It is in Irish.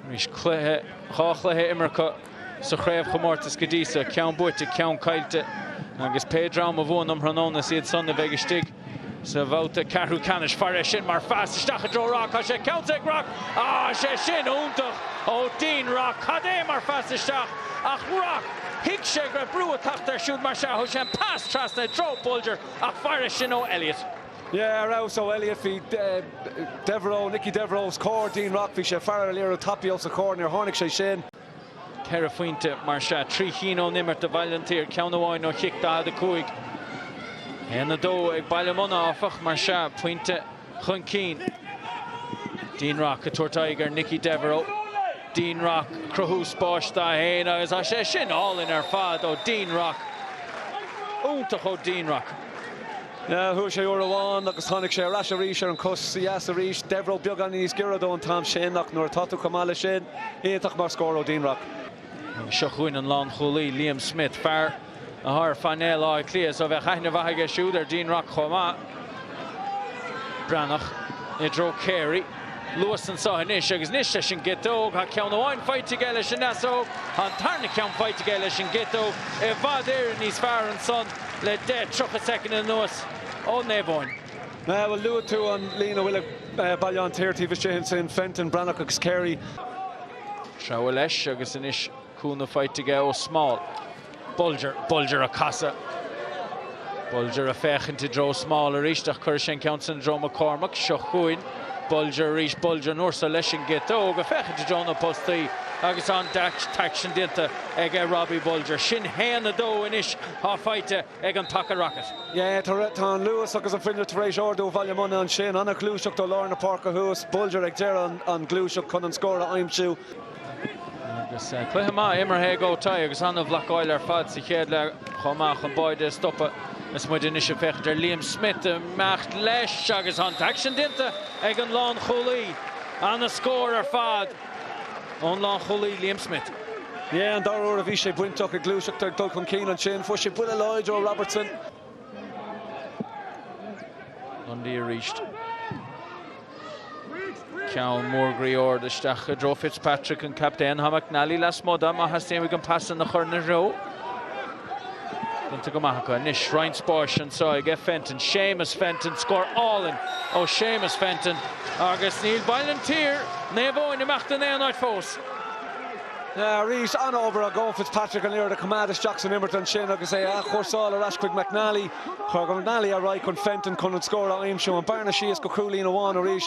Arís cluiche, dhá chluiche imirthe acu sa chraobhchomórtas go dtí so, ceann buaite, ceann caillte agus pé dream a bhuann um thráthnóna is iad san a bheidh istigh sa bhabhta ceathrú ceannais. Fairis sin mar phas isteach i dtreo Rock, tá sé ceannsa ag Rock, thá sé sin iontach ó Dean Rock, cad é mar phas isteach ach Rock, thuig sé go raibh brú ag teacht air siúd mar sea thug sé an pas trasna i dtreo Bolger ach fairis sin ó Elliott. Yeah, ar fheabhas ó Elliott. Bhí Devereux, Nicky Devereux os comhair Dean Rock. Bhí sé ag faire ar an liathróid tapaidh os a chomhair. Níor tháinig sé sin. Ceithre phointe mar sea, trí chinn ón imirt do Bhaile an tSaoir, ceann amháin ó chic 45. 1-2 ag Baile Munna, áfach, mar sea, pointe chun cinn. Dean Rock ag tabhairt aghaidh ar Nicky Devereux. Dean Rock ag cruthú spáis dá fhéin agus tá sé sin álainn ar fad ó Dean Rock. Iontach ó Dean Rock. Chuaidh sé uair amháin agus tháinic sé ar ais arís ar an chos dheas arís. Devereux beagáinín níos giorra dó an t-am sin ach nuair atá tú chomh maith leis sin, iontach mar scór ó Dean Rock. Agus seo chugainn an lánchúlaí, Liam Smith, fear a thá ar phainéal Átha Cliath so bheadh aithne mhaith aige siúd ar Dean Rock chomh maith. Breathnach i dtreo Carey. luas anso anois agus anois leis an gciotóg. Thá ceann amháin faighte aige leis an ndeasóg. Thá an tarna ceann faighte aige leis an gciotóg. I bhfad Éireann níos fearr ansan le deich, tríocha soicind anuas ó Naomh Eoin. Bhuel, luaigh tú an líon a bhfuil ag Baile an tSaoir taobh istigh ansin, Fenton, Breathnach agus Carey. Treabhadh leis agus anois cúnamh faighte aige ó Small. Bulger, Bulger a' casadh. Bulger a' féachaint i dtreo Small arís ach cuirfidh sé an ceann san i dtreo McCormack. Seo chugainn Bulger arís. Bulger an uair so leis an gciotóg a' féachaint i dtreo na bpostaí agus tá an t-aicsean déanta aige Robbie Bulger. Sin haon a dó anois atá faighte ag an Taca Rocket. Yeah, tá, tá an luas agus an fuinneamh tar éis ardú Bhaile Munna ansin. An-ghluaiseacht ó lár na páirce thuas. Bulger ag deireadh an, an ghluaiseacht chun an scór a aimsiú. Agus cluiche maith imeartha aige agus an-bhlocáil ar fad sa chéad leath chomh maith chun báide a stopadh. Is muid anois ag féachaint ar Liam Smith imeacht leis agus an t-aicsean déanta ag an lánchúlaí. Ana-scór ar fad ón lánchúlaí Liam Smith. An dara uair a bhí sé bainteach i ngluaiseacht ag dul chun cinn ansin. Fuair sé buille láidir ó Robertson. Lundy arís. Ceann mór groí ard isteach i dtreo Fitzpatrick an captaen. Tá McNally lasmuigh dó má thastaíonn uaidh an pas san a chur ina threo. Déanta go maith acu anois. Roinnt spáis anso ag Fenton. Séamus Fenton, scór álainn ó Séamus Fenton agus níl Baile an tSaoir, Naomh Eoin, imeacht in aon áit fós. Arís, an-obair ag Eoin Fitzpatrick an liathróid a choimeád isteach san imirt ansin agus é a athchúrsáil ar ais chuig McNally. Chuir McNally ar aghaidh chun Fenton chun an scór a aimsiú. An bhearna síos go cúilín amháin arís.